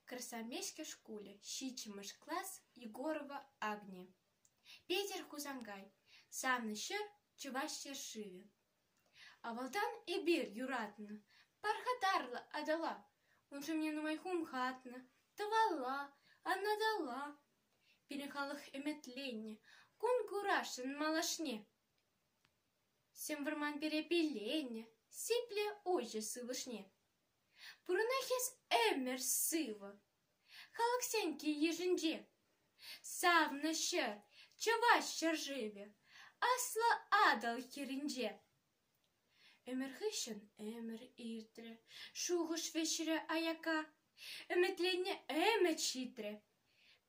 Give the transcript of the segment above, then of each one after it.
Красомеске шкулӗ, ҫиччӗмӗш класс, Егорова Агни. Петӗр Хусанкай, санӑн ҫӗр Чӑваш ҫӗршывӗ. Авалтан эпир юратнӑ пархатарлӑ Атӑла. Уншӑн мне нумай хумхатнӑ тӑвалла, анаталла. Пирӗн халӑх ӗмӗтленнӗ кун курасшӑн малашне. Сӗм вӑрман пире пилленӗ, сиплӗ уҫӑ сывлӑшне. Пурӑнать хӗс ӗмӗр сывӑ. Халӑхсен кил-йышӗнче савнӑ ҫӗр, чӑваш ҫӗршывӗ, Аслӑ Атӑл хӗрринче. Ӗмӗр хыҫҫӑн ӗмӗр иртрӗ, шухӑш вӗҫрӗ аяка. Ӗмӗтленнӗ ӗмӗт ҫитрӗ.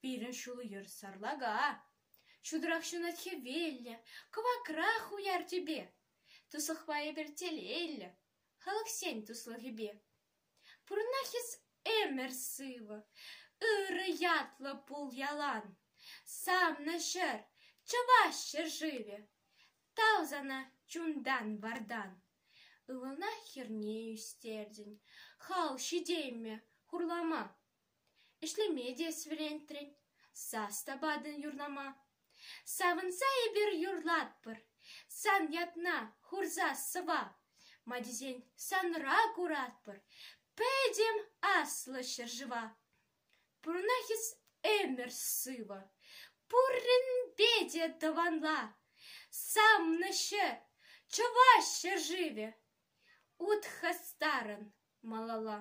Пирӗн ҫул-йӗр сарлака. Ҫутӑрах ҫунать хӗвеллӗ, кӑвакрах уяр тӳпе. Туслӑхпа эпир телейлӗ. халӑхсен туслӑхӗпе. Пурӑнах-и ӗмӗр сывӑ, ырӑ ятлӑ пул ялан. Савнӑ ҫӗр, чӑваш ҫӗршывӗ, тав сана чунтан-вартан. Ывӑлна хӗрне ӳстертӗн, хал ҫитеймӗ хурлама. Ӗҫлеме те вӗрентрӗн, сас та патӑн юрлама. Савӑнса эпир юрлатпӑр, сан ятна хурса сӑва. Ма тесен санра куратпӑр пӗтӗм аслӑ ҫӗршыва. Пурӑнах эс ӗмӗр сывӑ, пурӗнпе те тӑванла. Савнӑҫӗ, чӑваш ҫӗршывӗ, ут хастарӑн малалла.